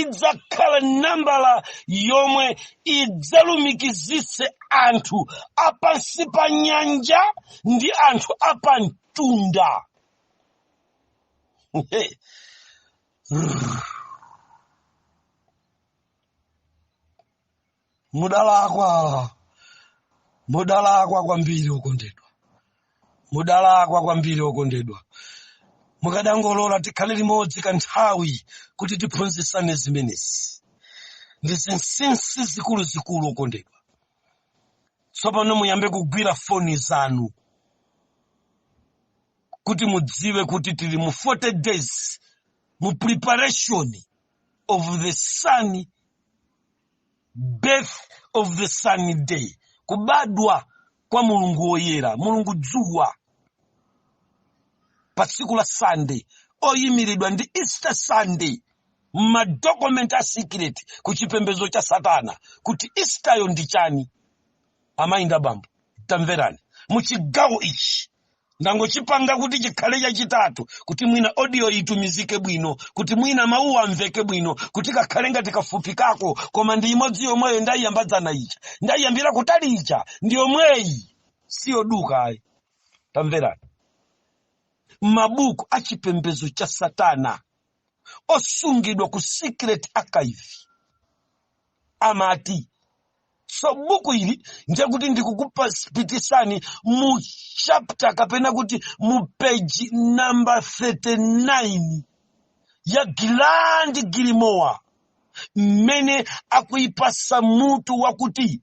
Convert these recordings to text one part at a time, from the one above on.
idzakhala nambala yomwe idzalumikizitse anthu apansi pa nyanja ndi anthu apamtunda mudalakwa mudalakwa kwambiri okondedwa mudalakwa kwambiri okondedwa mukadangolola tikhale limodzi kanthawi kuti tiphunzitsane zimenezi ndi zinsinsi zikuluzikulu okondedwa tsopano muyambe kugwira foni zanu kuti mudziwe kuti tili mu 40 days mu preparation of the sun birth of the sunday kubadwa kwa mulungu woyera mulungu dzuwa pa tsiku la sunday oyimiridwa ndi easter sunday m'madokumenti a secret ku chipembedzo cha satana kuti easteryo ndi chani amayi ndi abambo tamverani mu chigawo ichi ndangochipanga kuti chikhale chachitatu kuti mwina audio itumizike bwino kuti mwina mawuwa amveke bwino kuti kakhale ngati kafupi kako koma ndi imodzi yomweyo ndayiyamba dzana ija ndayiyambira kutali ija ndi yomweyi siyoduka ayi tamverani mabuku a chipembedzo cha satana osungidwa ku secret archive amati so buku ili ndekuti ndikukupitisani mu chapter kapena kuti mu page number 39 ya gilandi gilimowa mmene akuyipasa mutu wakuti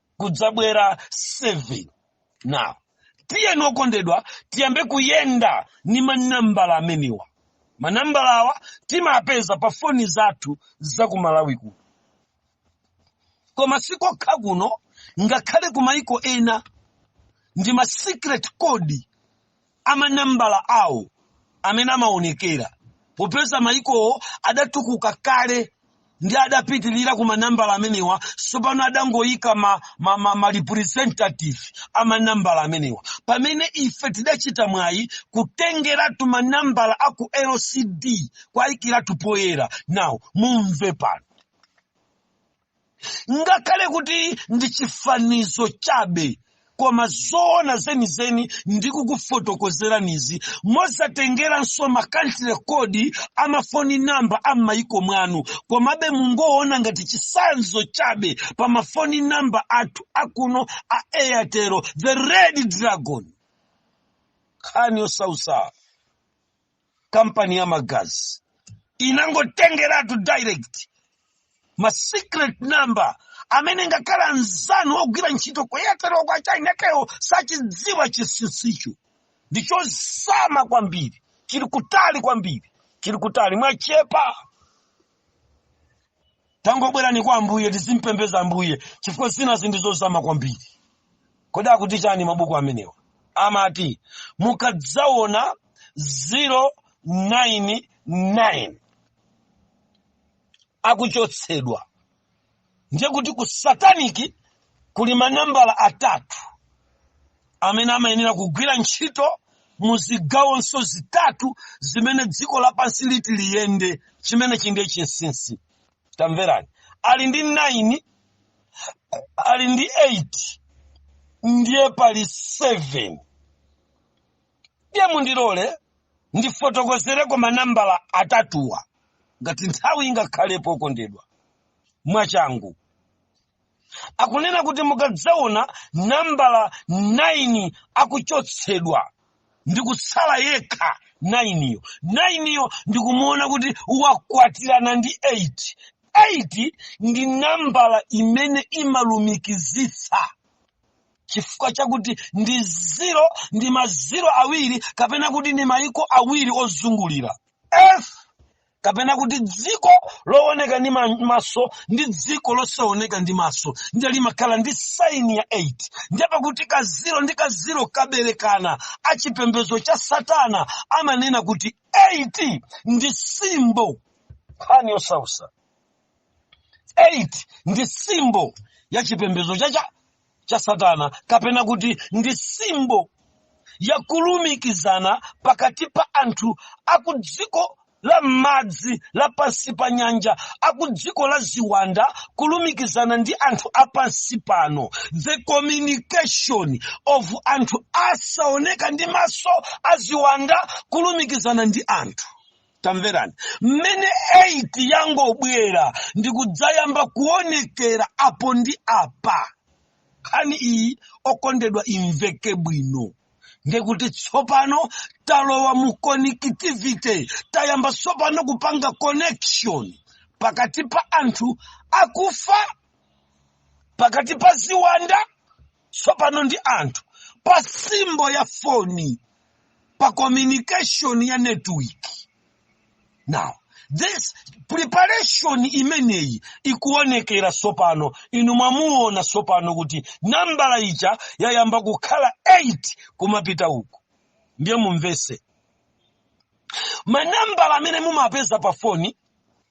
kudzabwera 7 now tiyeni okondedwa tiyambe kuyenda ni manambala amenewa manambala awa timapeza pa foni zathu za ku malawi kuno koma sikokha kuno ngakhale ku maiko ena ndi ma secret code amanambala awo amene amaonekera popeza mayikowo adatukuka kale ndi adapitirira ku manambala amenewa tsopano adangoyika ma representative a manambala amenewa pamene ife tidachita mwayi kutengeratu manambala a ku lcd kuwayikiratu poyera now mumve pano ngakhale kuti ndi chifanizo chabe koma zoona zenizeni ndikukufotokozeranizi mosatengeranso ma country code amafoni namba a m'mayiko mwanu komabe mungoona ngati chisanzo chabe pa mafoni namba athu akuno a airtel the red dragon nkhani yosausa kampani ya magazi inangotengeratu direct ma secret number amene ngakhale mnzanu ogwira ntchito ku airtel kwa china kewo sachidziwa chinsinsicho ndi chozama kwambiri chili kutali kwambiri chili kutali mwachepa tangobwerani kwa ambuye tizimpembeza ambuye chifukwa zina ndi zozama kwambiri kodi akuti chani mabuku amenewa amati mukadzaona 099 akuchotsedwa ndiye kuti ku sataniki kuli manambala atatu amene amayenera kugwira ntchito mu zigawonso zitatu zimene dziko lapansi liti liyende chimenechi ndiye chinsinsi tamverani ali ndi 9 ali ndi 8 ndiye pali 7 ndiye mundilole ndifotokozereko manambala atatuwa ngati nthawi ingakhalepo okondedwa mwachangu akunena kuti mukadzaona nambala 9 akuchotsedwa ndi kutsala yekha 9 yo 9 yo ndikumuona kuti wakwatirana ndi 8 8 ndi nambala imene imalumikizitsa chifukwa chakuti ndi ziro ndi maziro awiri kapena kuti ndi mayiko awiri ozungulira Earth kapena kuti dziko looneka ndi maso ndi dziko losaoneka ndi maso ndiye limakhala ndi saini ya 8 ndiye pakuti kaziro ndi kaziro kaberekana achipembedzo cha satana amanena kuti 8 ndi simbo nkhani yosausa 8 ndi simbo ya chipembedzo cha cha cha satana kapena kuti ndi simbo yakulumikizana pakati pa anthu akudziko la m'madzi la pansi pa nyanja akudziko la ziwanda kulumikizana ndi anthu a pansi pano the communication of anthu asaoneka ndi maso a ziwanda kulumikizana ndi anthu tamverani mmene 8 yangobwera ndi kudzayamba kuonekera apo ndi apa nkhani iyi okondedwa imveke bwino ndiye kuti tsopano talowa mu connectivity tayamba tsopano kupanga connection pakati pa anthu akufa pakati pa ziwanda tsopano ndi anthu pa simbo ya foni pa communication ya network now this preparation imeneyi ikuonekera tsopano inu mwamuona tsopano kuti nambala ija yayamba kukhala 8 kumapita uku ndiye mumvetse manambala amene mumapeza pa foni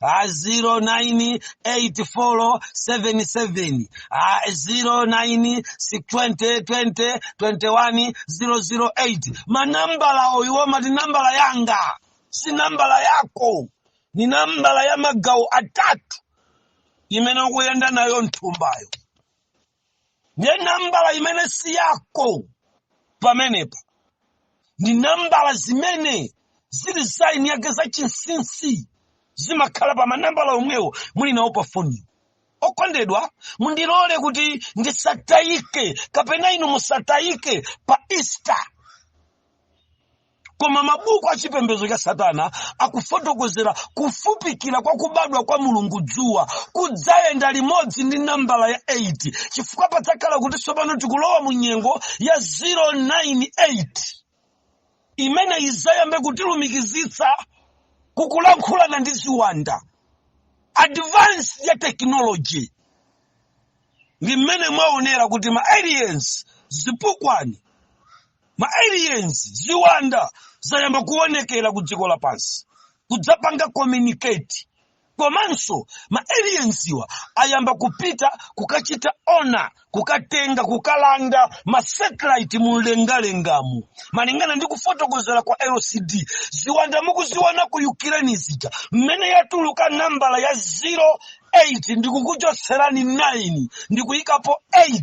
a 098477 a 0920202108 manambala awo amati nambala yanga si nambala yako ni nambala ya magawo atatu imene ukuyenda nayo mthumbayo ndiye nambala imene si yako pamenepa ndi nambala zimene zili za eni ake zachinsinsi zimakhala pa manambala omwewo muli nawo pa foniyo okondedwa mundilole kuti ndisatayike kapena inu musatayike pa easter koma mabuku a chipembedzo cha satana akufotokozera kufupikira kwa kubadwa kwa mulungu dzuwa kudzayenda limodzi ndi nambala ya 8 chifukwa padzakhala kuti tsopano tikulowa mu nyengo ya 098 imene idzayambe kutilumikizitsa kukulankhulana ndi ziwanda advance ya technology ndi mmene mwaonera kuti ma aliens zipukwani ma aliens ziwanda zayamba kuonekera ku dziko lapansi kudzapanga communicate komanso ma aliensiwa ayamba kupita kukachita ona kukatenga kukalanda ma satellite mu mlengalengamu malingana ndi kufotokozera kwa lcd ziwanda mukuziona ku ukraine zija mmene yatuluka nambala ya 08 ndikukuchotserani 9 ndikuyikapo 8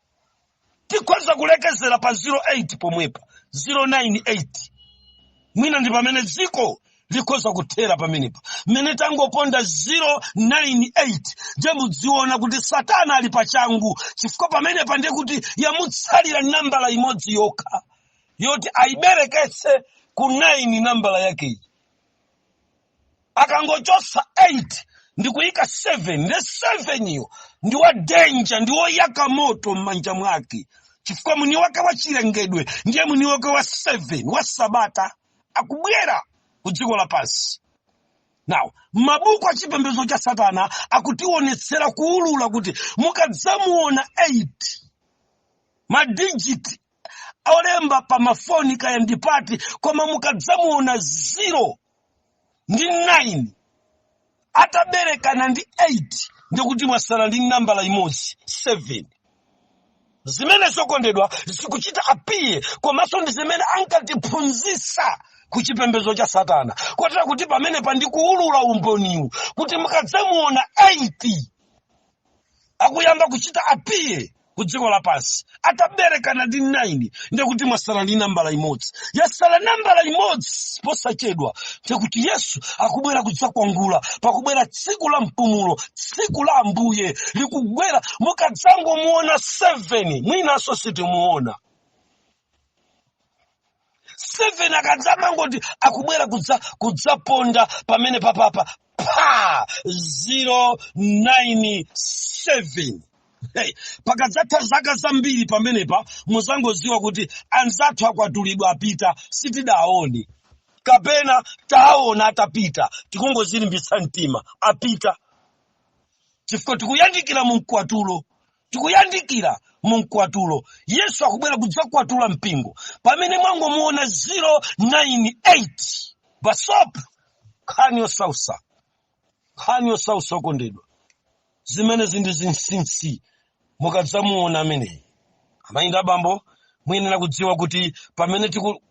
tikhoza kulekezera pa 08 pomwepa 098 mwina ndi pamene dziko likhoza kuthera pamenepa mmene tangoponda 098 ndiye mudziona kuti satana ali pachangu chifukwa pamenepa ndiye kuti yamutsalira nambala imodzi yokha yoti ayibereketse ku 9 nambala yakeyi akangochosa 8 ndikuyika 7 nde 7 yo ndi wa danger ndi woyaka moto m'manja mwake chifukwa mwini wake wa chilengedwe ndiye mwini wake wa 7 wa sabata akubwera ku dziko lapansi now mabuku a chipembedzo cha satana akutiwonetsera kuwulula kuti mukadzamuona 8 ma digit olemba pa mafoni kaya ndi pati koma mukadzamuona 0 ndi 9 ataberekana ndi 8 ndikuti mwasala ndi nambala imodzi 7 zimenezo okondedwa zikuchita appear komanso ndi zimene ankatiphunzitsa ku chipembedzo cha satana kotera kuti pamene pa ndikuwulula umboniwu kuti mukadzamuona 8 akuyamba kuchita apiye ku dziko lapansi ataberekana ndi 9 ndiye kuti mwasala ndi nambala imodzi yasala nambala imodzi posachedwa ndiye kuti yesu akubwera kudzakwatula pakubwera, tsiku la mpumulo tsiku la ambuye likubwera mukadzangomuona 7 mwinanso sitimuona 7 akadzamangoti akubwera kudzaponda pamene papapa pa 097 Hey, pakadzatha zaka zambiri pamenepa mudzangoziwa kuti anzathu akwatulidwa apita sitidaone kapena taona atapita tikungozilimbitsa mtima apita chifukwa tikuyandikira mu mkwatulo tikuyandikira mu mkwatulo yesu akubwera kudzakwatula mpingo pamene mwangomuona 098 basop nkhani yosausa nkhani yosausa okondedwa zimenezi ndi zinsinsi mukadzamuona ameneyi amayi ndi abambo muyenera kudziwa kuti pamene tiku-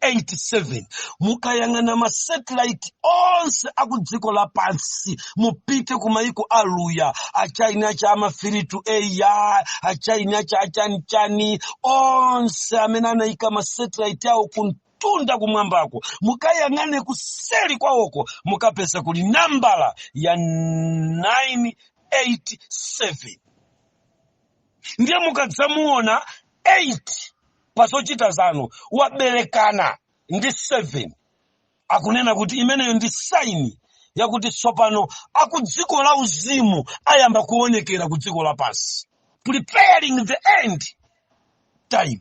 87 mukayang'ana masatellite onse aku dziko lapansi mupite ku maiko aluya achaina acha amafiritu eya achaina acha achanichani onse amene anaika masatellite awo kumtunda kumwambako mukayang'ane kuseri kwawoko mukapeza kuli nambala ya 987 ndiye mukadzamuona 8 pa zochita zanu waberekana ndi 7 akunena kuti imeneyo ndi saini yakuti tsopano akudziko la uzimu ayamba kuonekera ku dziko lapansi preparing the end time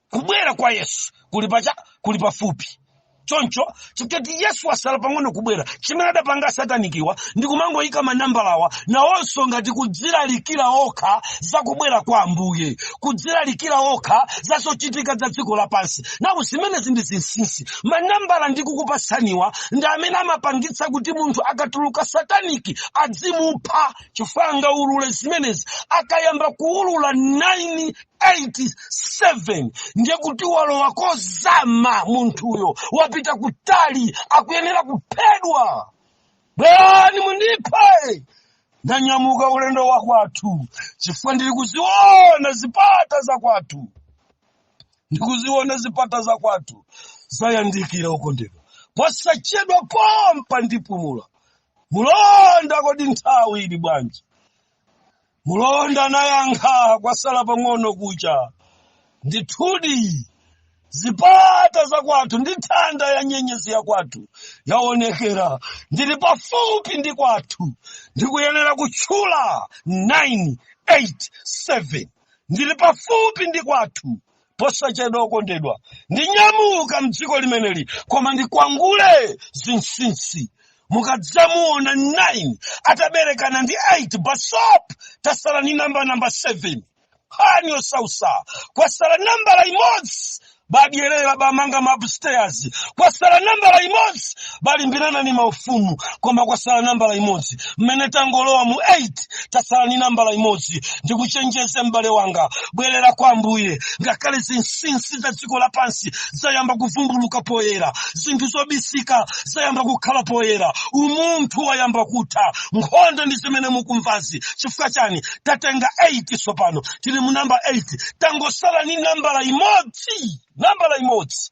kubwera kwa yesu kuli pacha kuli pafupi choncho chifukwa kuti yesu wasala pang'ono kubwera chimene adapanga asatanikiwa ndi kumangoyika manambalawa nawonso ngati kudzilalikira okha za kubwera kwa ambuye kudzilalikira okha za zochitika za dziko lapansi nawo zimenezi ndi zinsinsi manambala ndikukupatsaniwa ndi amene amapangitsa kuti munthu akatuluka sataniki adzimupha chifukwa angaulule zimenezi akayamba kuulula 9 87 ndiye kuti walowa kozama munthuyo wapita kutali akuyenera kuphedwa bwerani mundiphe ndanyamuka ulendo wa kwathu chifukwa ndili kuziona zipata za kwathu ndikuziona zipata za kwathu zayandikira okondedwa posachedwa pompa ndipumula mulonda kodi nthawi ili bwanji Mlonda nayankha, Kwasala pang'ono kucha. Ndithudi, zipata za kwathu ndi thanda ya nyenyezi ya kwathu yaonekera. Ndili pafupi ndi kwathu. Ndikuyenera kutchula 9, 8, 7. Ndili pafupi ndi kwathu. posachedwa okondedwa ndinyamuka mdziko limeneli koma ndikwangule zinsinsi mukadzamuona 9 ataberekana ndi 8 basop tasala ni namba namba 7 nkhani yosausa kwasala nambala imodzi badyerera bamanga ma upstairs kwasala nambala imodzi balimbirana ni maufumu koma kwasala nambala imodzi mmene tangolowa mu 8 tasala ni nambala imodzi ndikuchenjeze m'bale wanga bwerera kwa ambuye ngakhale zinsinsi za dziko lapansi zayamba kuvumbuluka poyera zinthu zobisika zayamba kukhala poyera umunthu wayamba kutha nkhondo ndi zimene mukumvazi chifukwa chani tatenga 8 tsopano tili mu namba 8 tangosala ni nambala imodzi nambala imodzi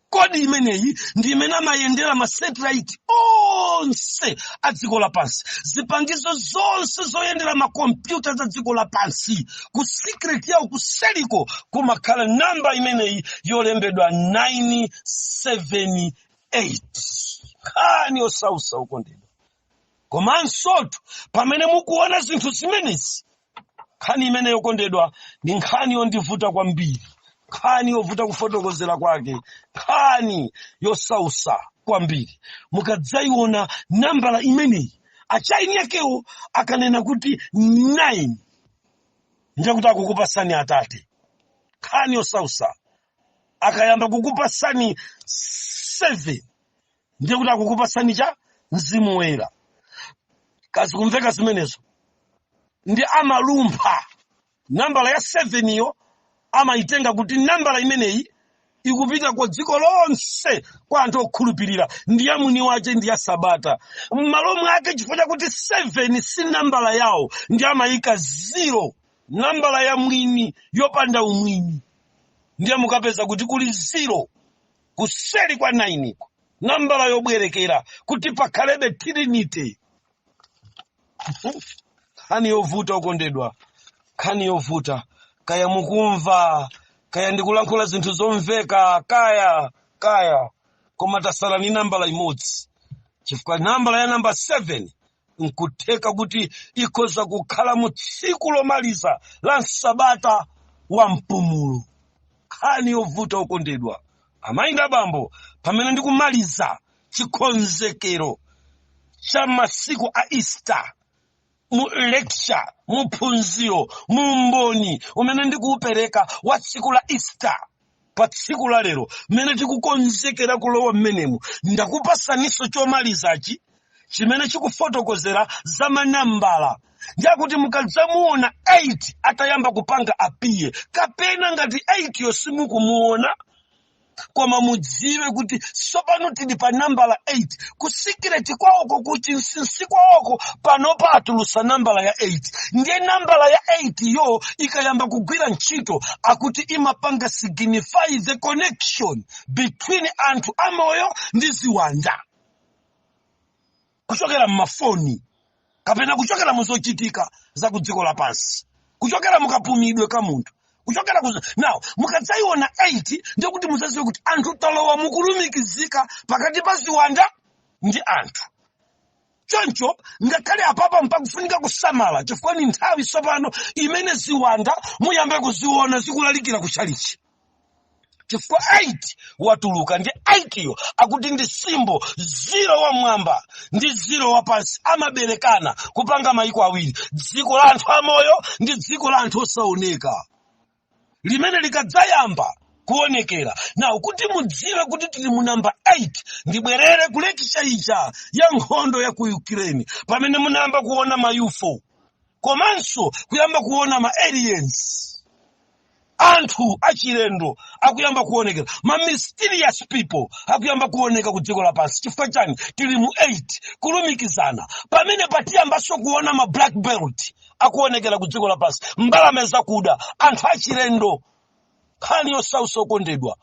code imeneyi ndi imene amayendera masatellite onse a dziko lapansi zipangizo zonse zoyendera makompyuta za dziko lapansi ku secret yawo kuseliko kumakhala namba imeneyi yolembedwa 978 nkhani yosausa okondedwa komansotu pamene mukuona zinthu zimenezi nkhani imeneyi okondedwa ndi nkhani yondivuta kwambiri nkhani yovuta kufotokozera kwake nkhani yosausa kwambiri mukadzaiona nambala imeneyi achaini yakewo akanena kuti 9 ndekuti akukupasani atate nkhani yosausa akayamba kukupasani 7 ndiye kuti akukupasani cha mzimu woyera kazikumveka zimenezo ndi amalumpha nambala ya 7 iyo amayitenga kuti nambala imeneyi ikupita kwa dziko lonse kwa anthu okhulupirira ndi ya mwini wace ndi ya sabata m'malo mwake chifukwa chakuti 7 si nambala yawo ndi amayika 0 nambala ya mwini yopanda umwini ndiye mukapeza kuti kuli 0 kuseri kwa nainiko nambala yobwerekera kuti pakhalebe trinity nkhani yovuta okondedwa nkhani yovuta kaya mukumva kaya ndikulankhula zinthu zomveka kaya kaya koma tasala ni nambala imodzi chifukwa nambala ya namba 7 nkutheka kuti ikhoza kukhala mu tsiku lomaliza la msabata wa mpumulo nkhani yovuta okondedwa amayi ndi abambo pamene ndikumaliza chikonzekero cha masiku a easter mu lecture mu phunziro mu umboni umene ndikuupereka wa tsiku la easter pa tsiku la lero mmene tikukonzekera kulowa mmenemu ndakupasaniso chomalizachi chimene chikufotokozera za manambala ndiakuti mukadzamuona 8 atayamba kupanga appear kapena ngati 8 yo simukumuona koma mudziwe kuti tsopano tili pa nambala 8 kusikireti kwawoko kuchinsinsi kwawoko panopa atulusa nambala ya 8 ndiye nambala ya 8 yo ikayamba kugwira ntchito akuti imapanga signify the connection between anthu amoyo ndi ziwanda kuchokera m'mafoni kapena kuchokera mu zochitika za ku dziko lapansi kuchokera mukapumidwe ka munthu kuchokera ku now mukadzaiona 8 ndiye kuti muzaziwe kuti anthu talowa mukulumikizika pakati pa ziwanda ndi anthu choncho ngakhale apapa mpakufunika kusamala chifukwa ni nthawi tsopano imene ziwanda muyambe kuziona zikulalikira ku chalichi chifukwa 8 watuluka ndi 8 yo akuti ndi symbol ziro wamwamba ndi ziro wapansi amaberekana kupanga mayiko awiri dziko la anthu amoyo ndi dziko la anthu osaoneka limene likadzayamba kuonekera now kuti mudziwe kuti tili mu namba 8 ndibwerere ku lecture ija ya nkhondo ya ku ukraine pamene munayamba kuona ma UFO komanso kuyamba kuona ma aliens anthu achilendo akuyamba kuonekera ma mysterious people akuyamba kuoneka ku dziko lapansi chifukwa chani tili mu 8 kulumikizana pamene patiyambanso kuona ma black bird akuonekera ku dziko lapansi mbalame zakuda anthu achilendo nkhani yosausa okondedwa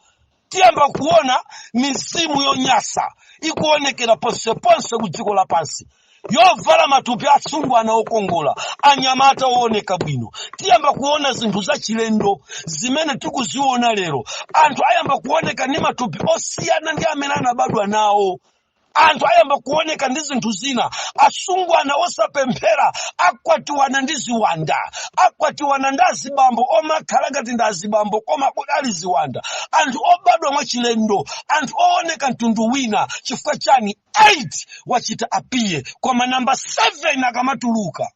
tiyamba kuona mizimu yonyansa ikuonekera ponseponse ku dziko lapansi yovala matupi atsungwana okongola anyamata ooneka bwino tiyamba kuona zinthu zachilendo zimene tikuziona lero anthu ayamba kuoneka ndi matupi osiyana ndi amene anabadwa nawo anthu ayamba kuoneka ndi zinthu zina asungwana osapemphera akwatiwana ndi ziwanda akwatiwana ndi azibambo omakhala ngati ndi azibambo koma ali ziwanda anthu obadwa mwachilendo anthu ooneka mtundu wina chifukwa chani 8 wachita appear koma namba 7 akamatuluka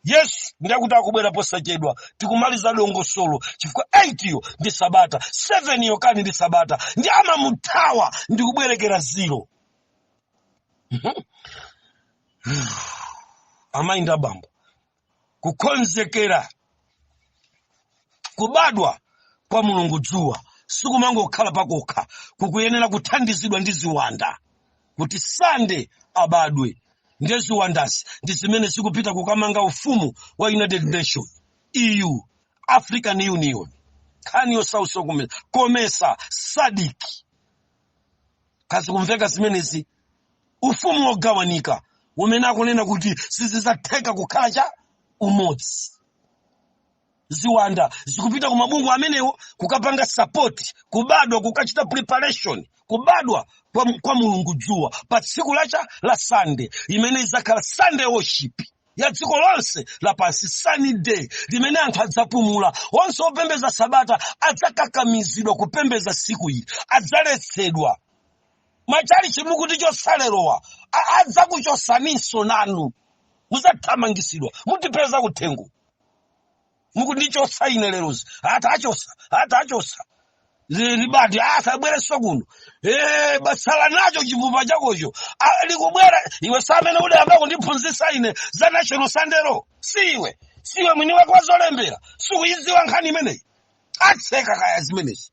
yesu ndiye kuti akubwera posachedwa tikumaliza dongosolo chifukwa 8 yo ndi sabata 7 yo kani ndi sabata ndi amamuthawa ndi kubwerekera ziro amayi ndi abambo kukonzekera kubadwa kwa mulungu dzuwa sikumangokhala kokha kukuyenera kuthandizidwa ndi ziwanda kuti sande abadwe ndiye ziwandazi ndi zimene zikupita kukamanga ufumu wa united nations eu african union nkhani yosausa komesa komesa sadiki kaya zikumveka zimenezi ufumu wogawanika umene akunena kuti sizidzatheka kukhala chaumodzi ziwanda zikupita ku mabungwe amenewo kukapanga sapoti kubadwa kukachita preparation kubadwa kwa, kwa mulungu dzuwa pa tsiku lake la sande limene izakhala sande worship ya dziko lonse lapansi sunny day limene anthu adzapumula onse opembeza sabata adzakakamizidwa kupembeza siku ili adzaletsedwa machalichi mukutichotsa lerowa a- adzakuchotsaninso nanu muzathamangisidwa mutipeza kuthengo mukundichotsa ine lerozi atachotsa atachotsa ribadi asabwerenso kuno Eh, bwatsala nacho chipupa chakocho Ah, likubwera iwe si amene udayamba kundiphunzitsa ine za national sunday law si iwe si iwe mwini wake wa zolembera sikuyidziwa nkhani imeneyi atseka kaya zimenezi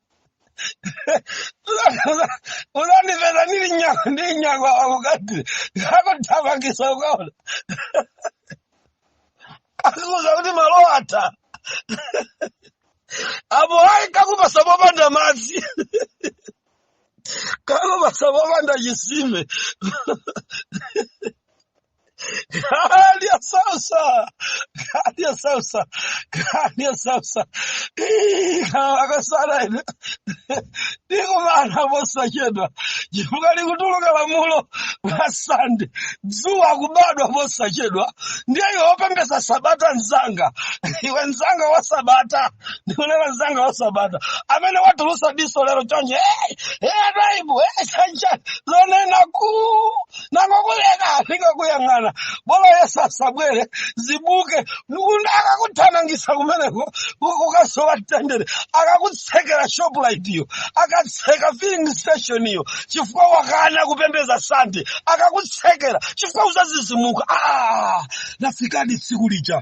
uzandipeza ndiri nyakwa ndiri nyakwa akati akuthamangisa ukaona akuuza kuti malo atha apo ayi akakupasa popanda madzi akakupasa popanda chisime Kali ya sautsa, kali ya sautsa, kali ya sautsa. Ii, akasala ine. Tikumana posachedwa. Chifukwa likutuluka lamulo la sande. Dzuwa kubadwa posachedwa. Ndiye iwe opembeza sabata nzanga. Iwe nzanga wa sabata. Nikunena nzanga wa sabata. Amene watulusa diso lero chonchi. Hey, hey, Twaibu, hey, Chanja. Lonena kuu. nangokuleka ndikakuyang'ana bolo yesu asabwere zibuke ndikuti akakuthamangisa kumeneko ku- ukasowa mtendere akakutsekera shoprite iyo akatseka filling station iyo chifukwa wakana kupembeza sande akakutsekera chifukwa uzadzidzimuka ah, lafikadi tsiku lija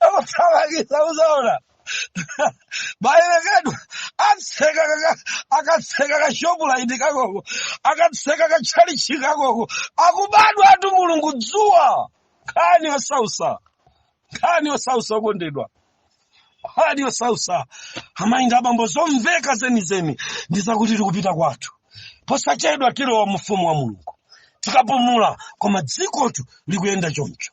akuthamangisa uzaona bayerekedwa atseka kaka- akatseka kashopu laini kakoko akatseka katchalichi kakoko akubadwatu mulungu dzuwa nkhani yosausa nkhani yosausa okondedwa nkhani yosausa amayi abambo zomveka zenizeni ndi zakuti tikupita kwathu posachedwa tilowa mufumu wa mulungu tikapumula koma dzikotu likuyenda choncho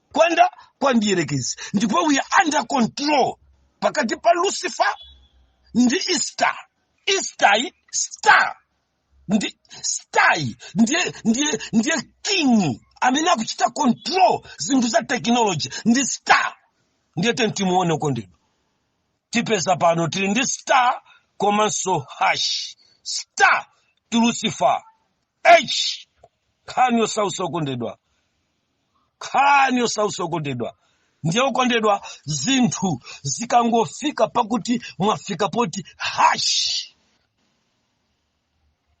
kuyenda kwa mdierekezi ndipo we are under control pakati pa lucifer ndi star star star ndi star yi ndiye ndiye ndiye king amene akuchita control zinthu za technology ndi star ndiye tiyeni timuone okondedwa tipeza pano tili ndi star komanso hash star to lucifer h nkhani yosausa okondedwa nkhani yosausa okondedwa ndiye okondedwa zinthu zikangofika pakuti mwafika poti hashi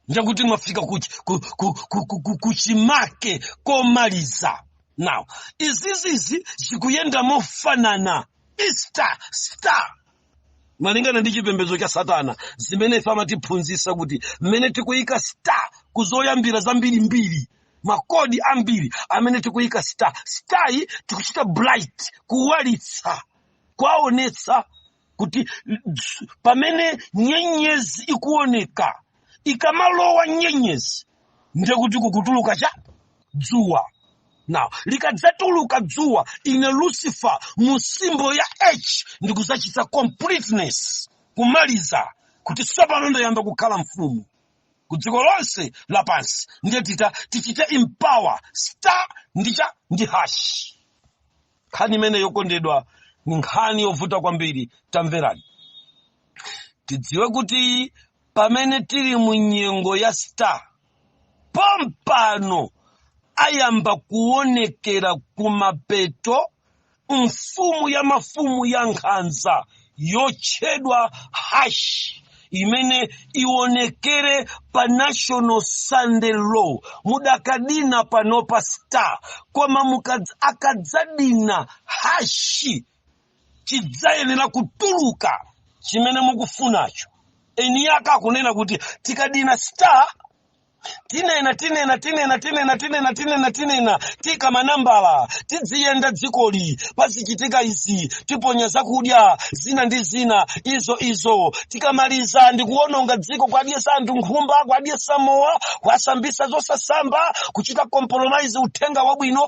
ndekuti mwafika kuch- ku- ku- ku- ku- ku- kuchimake komaliza now izizizi zikuyenda mofanana easter star malingana ndi chipembedzo cha satana zimene ife amatiphunzitsa kuti mmene tikuyika star ku zoyambira zambirimbiri makodi ambiri amene tikuyika star star yi tikuchita bright kuwalitsa kuwaonetsa kuti dz- pamene nyenyezi ikuoneka ikamalowa nyenyezi ndiye kuti kukutuluka chani dzuwa now likadzatuluka dzuwa ine lucifer mu simbo ya h ndikudzachita completeness kumaliza kuti tsopano ndayamba kukhala mfumu ku dziko lonse lapansi ndiye tita tichite empower star ndi chani ndi hash nkhani imeneyi okondedwa ni nkhani yovuta kwambiri tamverani tidziwe kuti pamene tili mu nyengo ya star pompano ayamba kuonekera kumapeto mfumu ya mafumu ya nkhanza yotchedwa hash imene ionekere pa national sunday law mukadina panopa star koma mukadz- akadzadina hashi chidzayenera kutuluka chimene mukufunacho eni ake akunena kuti tikadina star tinena tinena tinena tinena tinena tinena tinena tiika manambala tidziyenda dzikoli pazichitika izi tiponya zakudya zina ndi zina izo izo tikamaliza ndi kuononga dziko kwadyesa anthu nkhumba kwadyesa mowa kwasambisa zosasamba kuchita compromise uthenga wabwino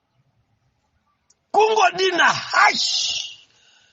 kungodina hash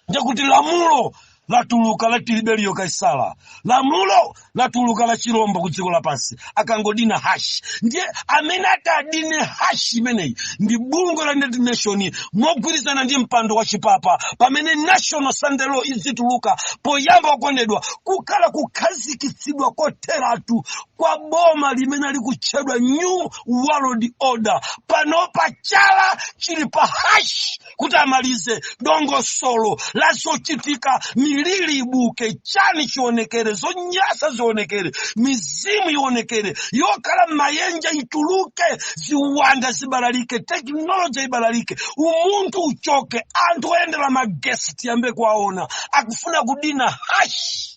ndikuti lamulo latuluka la tiberiyo kaisala lamulo latuluka la chilombo ku dziko lapansi akangodina hash ndiye amene atadine hash imeneyi ndi bungwe la united nations mogwirizana ndi mpando wa chipapa pamene national sunday law idzituluka poyamba okondedwa kukhala kukhazikitsidwa kotheratu kwa boma limene likutchedwa new world order panopa chala chili pa hash kuti amalize dongosolo la zochitika miliri ibuke chani chionekere zonyasa zionekere mizimu ionekere yokhala m'maenje ituluke ziwanda zibalalike teknoloji ibalalike umunthu uchoke anthu oyendera magesi tiyambe kuwaona akufuna kudina hash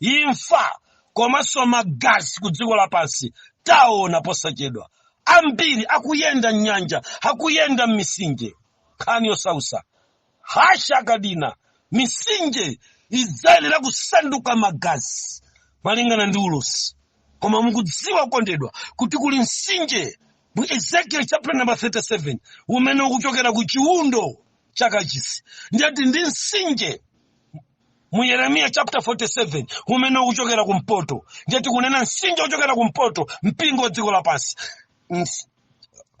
imfa komanso magazi ku dziko lapansi taona posachedwa ambiri akuyenda m'nyanja akuyenda m'misinje nkhani yosausa hash akadina misinje idzayenera kusanduka magazi malingana ndi ulosi koma mukudziwa okondedwa kuti kuli msinje mu ezekiel chapter number 37 umene ukuchokera ku chiundo cha kachisi ndiyati ndi msinje mu yeremiya chapter 47 umene ukuchokera kumpoto ndiye tikunena msinje wochokera kumpoto mpingo wa dziko lapansi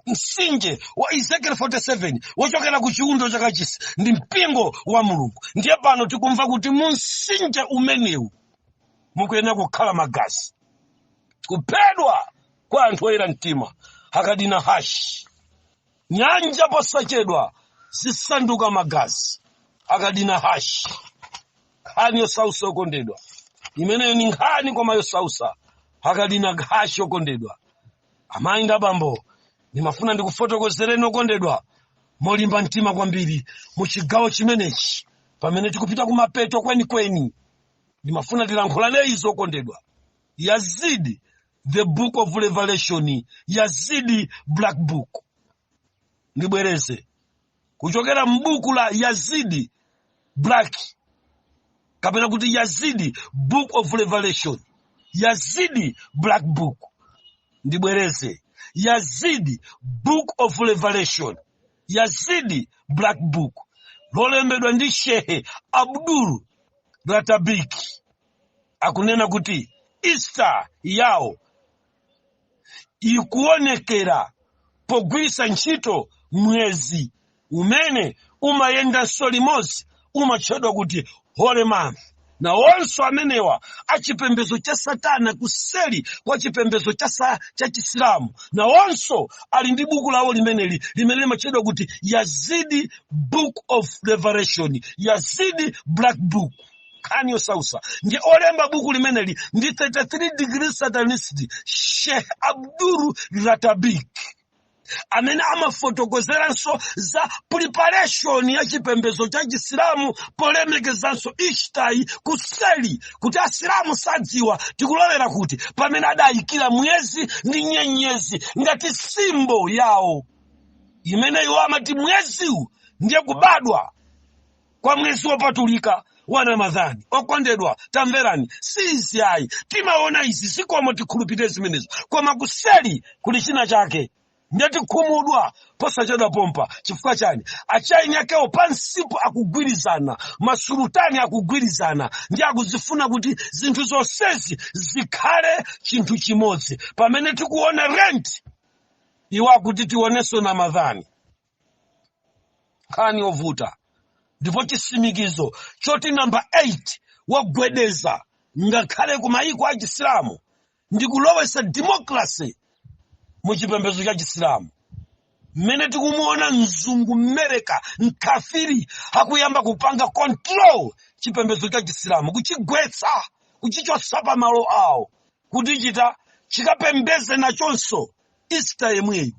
msinje wa ezekiel 47 wochokera ku chiundo cha kachisi ndi mpingo wa mulungu ndiye pano tikumva kuti mu msinje umenewu mukuyenera kukhala magazi kuphedwa kwa anthu oyera mtima akadina hash nyanja posachedwa zisanduka magazi akadina hash nkhani yosausa okondedwa imeneyo ni nkhani koma yosausa akadina hash okondedwa amayi ndi abambo ndimafuna ndikufotokozereni okondedwa molimba mtima kwambiri mu chigawo chimenechi pamene tikupita kumapeto kwenikweni ndimafuna tilankhulane izi okondedwa yazidi the book of revelation yazidi black book ndibwereze kuchokera m'buku la yazidi black kapena kuti yazidi book of revelation yazidi black book ndibwereze yazidi book of revelation yazidi black book lolembedwa ndi shehe abdul ratabiki akunena kuti easter yawo ikuonekera pogwiritsa ntchito mwezi umene umayendanso limodzi umatchedwa kuti holy month nawonso amenewa achipembedzo cha satana kuseli kwa chipembedzo cha sa- cha chisilamu nawonso ali ndi buku lawo limeneli limene limatchedwa kuti yazidi book of revelation yazidi black book nkhani yosausa ndiye olemba buku limeneli ndi 33 degree satanist sheikh abdul ratabik amene amafotokozeranso za preparation ya chipembedzo cha chisilamu polemekezanso ishtai kuseli kuti asilamu sadziwa tikulowera kuti pamene adayikira mwezi ndi nyenyezi ngati simbo yawo imene iwo amati mweziwu ndiye kubadwa kwa mwezi wopatulika wa ramadhani okondedwa tamverani si izi ayi timaona izi zikomo tikhulupirire zimenezo koma kuseli kuli china chake ndiye tikhumudwa posachedwa pompa chifukwa chani a chain yakewo pansipo akugwirizana masulutani akugwirizana ndi akuzifuna kuti zinthu zonsezi zikhale chinthu chimodzi pamene tikuona lent iwo akuti tionenso ramadhani nkhani yovuta ndipo chisimikizo choti namba 8 wagwedeza ngakhale ku mayiko a chisilamu ndi kulowesa demokrasi mu chipembedzo cha chisilamu mmene tikumuona mzungu mmereka mkafiri akuyamba kupanga control chipembedzo cha chisilamu kuchigwetsa kuchichotsa pa malo ake kuti chithe chikapembedze nachonso easter yemweyo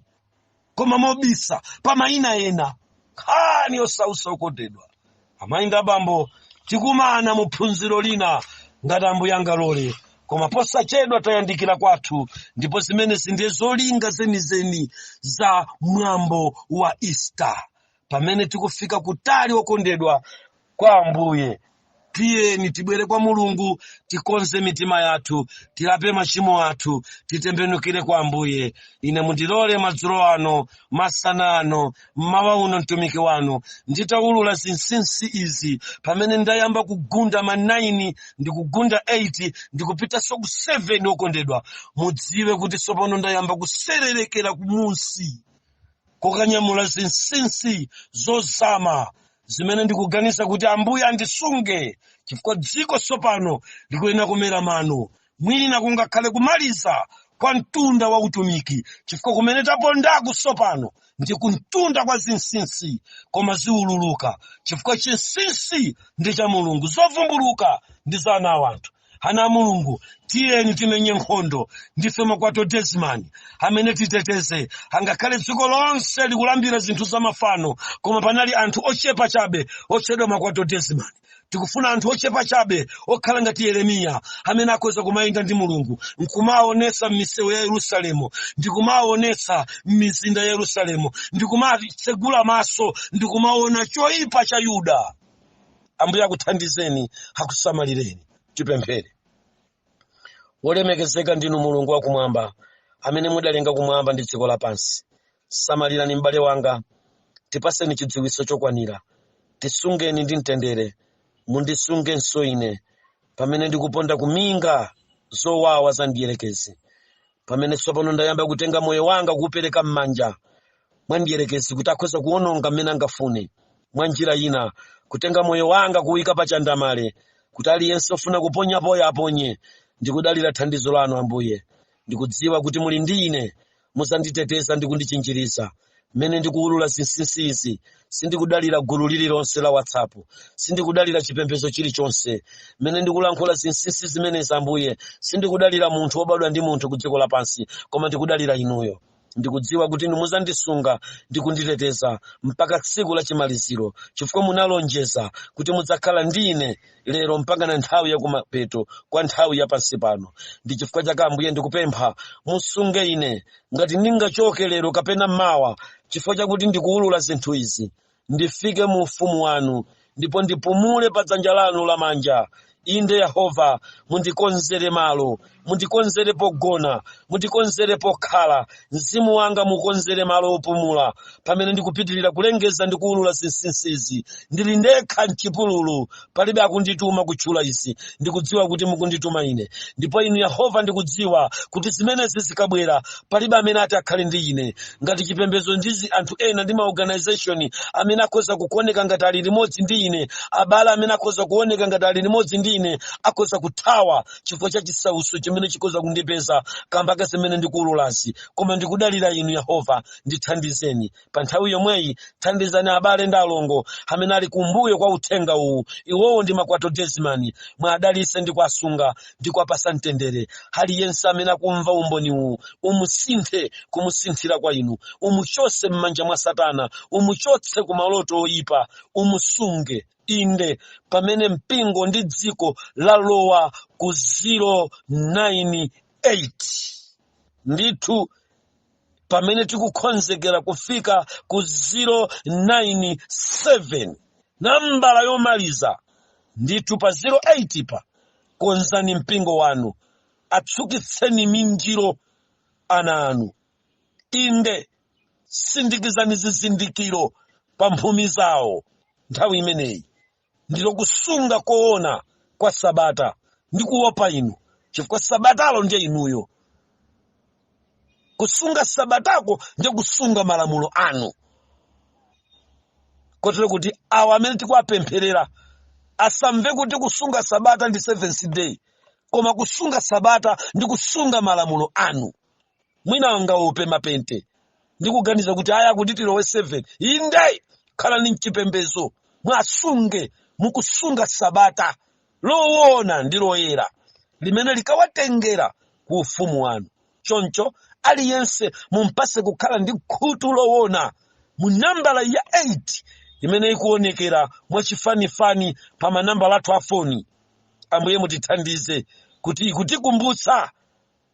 koma mobisa pa mayina ena nkhani yosausa okondedwa amayi ndi abambo tikumana mu phunziro lina ngati ambuye angalole koma posachedwa tayandikira kwathu ndipo zimenezi ndiye zolinga zenizeni za mwambo wa easter pamene tikufika kutali okondedwa kwa Ambuye. Tiyeni tibwere kwa Mulungu, tikonze mitima yathu, tilape machimo athu, titembenukire kwa Ambuye. Ine mundilole madzulo ano, masana ano, mmawa uno mtumiki wanu, nditaulula zinsinsi izi pamene ndayamba kugunda ma 9 ndi kugunda 8 ndi kupitanso ku 7 okondedwa. Mudziwe kuti tsopano ndayamba kusererekera kumunsi kokanyamula zinsinsi zozama zimene ndikuganiza kuti ambuye andisunge chifukwa dziko tsopano likuyenera kumera mano mwina kungakhale kumaliza kwa mtunda wa utumiki chifukwa kumene tapondaku tsopano ndi kumtunda kwa zinsinsi koma ziululuka chifukwa chinsinsi ndi cha mulungu zovumbuluka ndi za ana a wanthu ana a mulungu tiyeni timenye nkhondo ndife ma quartodeciman amene titeteze angakhale dziko lonse likulambira zinthu zamafano koma panali anthu ochepa chabe otchedwa ma quartodeciman tikufuna anthu ochepa chabe okhala ngati yeremiya amene akhoza kumayenda ndi mulungu nkumaonetsa m'misewu ya yerusalemu ndikumaonetsa m'mizinda ya yerusalemu ndikumatsegula maso ndikumaona choyipa cha yuda ambuye akuthandizeni akusamalireni tipemphere wolemekezeka ndinu mulungu wakumwamba amene mudalenga kumwamba ndi dziko lapansi samalirani m'bale wanga tipaseni chidziwitso chokwanira tisungeni ndi mtendere mundisungenso ine pamene ndikuponda kuminga zowawa za mdierekezi pamene tsopano ndayamba kutenga moyo wanga kuupereka m'manja mwa mdierekezi kuti akhoza kuwononga mmene angafune mwa njira ina kutenga moyo wanga kuwuyika pa chandamale kuti aliyense ofuna kuponyapoyo aponye ndikudalira thandizo lanu ambuye ndikudziwa kuti muli ndi ine muzanditeteza ndi kundichinjiriza mmene ndikuwulula zinsinsi izi sindikudalira gulu lililonse la whatsapp sindikudalira chipembedzo chilichonse mmene ndikulankhula zinsinsi zimenezi ambuye sindikudalira munthu wobadwa ndi munthu ku dziko lapansi koma ndikudalira inuyo ndikudziwa kuti inu mudzandisunga ndi kunditeteza mpaka tsiku la chimaliziro chifukwa munalonjeza kuti mudzakhala ndi ine lero mpakana nthawi yakumapeto kwa nthawi ya pansi pano ndi chifukwa chake ambuye ndikupempha musunge ine ngati ndingachoke lero kapena mawa chifukwa chakuti ndikuwulula zinthu izi ndifike mu ufumu wanu ndipo ndipumule pa dzanja lanu lamanja inde yehova mundikonzere malo mundikonzere pogona mundikonzere pokhala mzimu wanga mukonzere malo opumula pamene ndikupitirira kulengeza ndi kuwulula zinsinsizi ndili ndekha mchipululu palibe akundituma kutchula izi ndikudziwa kuti mukundituma ine ndipo inu yehova ndikudziwa kuti zimenezi zikabwera palibe amene ati akhale ndi ine ngati chipembedzo ndizi anthu ena ndi maorganization amene akhoza kukuoneka ngati ali limodzi ndi ine abale amene akhoza kuoneka ngati ali limodzi ndi ine akhoza kuthawa chifukwa cha chisautso chimene chikhoza kundipeza kamba ka zimene ndikuululazi koma ndikudalira inu yehova ndithandizeni pa nthawi yomweyi thandizani abale ndi alongo amene ali kumbuyo kwa uthenga uwu iwowo ndi Makwato Desmani mwadalitse ndi kuwasunga ndi kuwapatsa mtendere aliyense amene akumva umboni uwu umusinthe kumusinthira kwa inu umuchotse m'manja mwa satana umuchotse ku maloto oyipa umusunge inde pamene mpingo ndi dziko lalowa ku 098 ndithu pamene tikukonzekera kufika ku 097 nambala yomaliza ndithu pa 08 pa konzani mpingo wanu atsukitseni minjiro ana anu inde sindikizani zizindikiro pa mphumi zawo nthawi imeneyi ndilo kusunga koona kwa sabata ndi kuopa inu chifukwa sabatalo ndiye inuyo kusunga sabatako ndiye kusunga malamulo anu kotero kuti awa amene tikuwapempherera asamve kuti kusunga sabata ndi seventh day koma kusunga sabata ndi kusunga malamulo anu mwina angaope mapente ndikuganiza kuti aya akuti tilowe 7 inde khalani mchipembezo mwasunge mukusunga sabata lowona ndi loyera limene likawatengera ku ufumu wanu choncho aliyense mumpatse kukhala ndi khutu lowona mu nambala ya 8 imene ikuonekera mwachifanifani pa manambala athu a foni ambuye mutithandize kuti ikutikumbutsa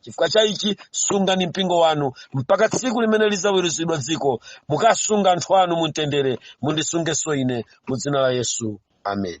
chifukwa cha ichi sungani mpingo wanu mpaka tsiku limene lidzaweruzidwa dziko mukasunga anthu anu mumtendere mundisungenso ine mu dzina la yesu amen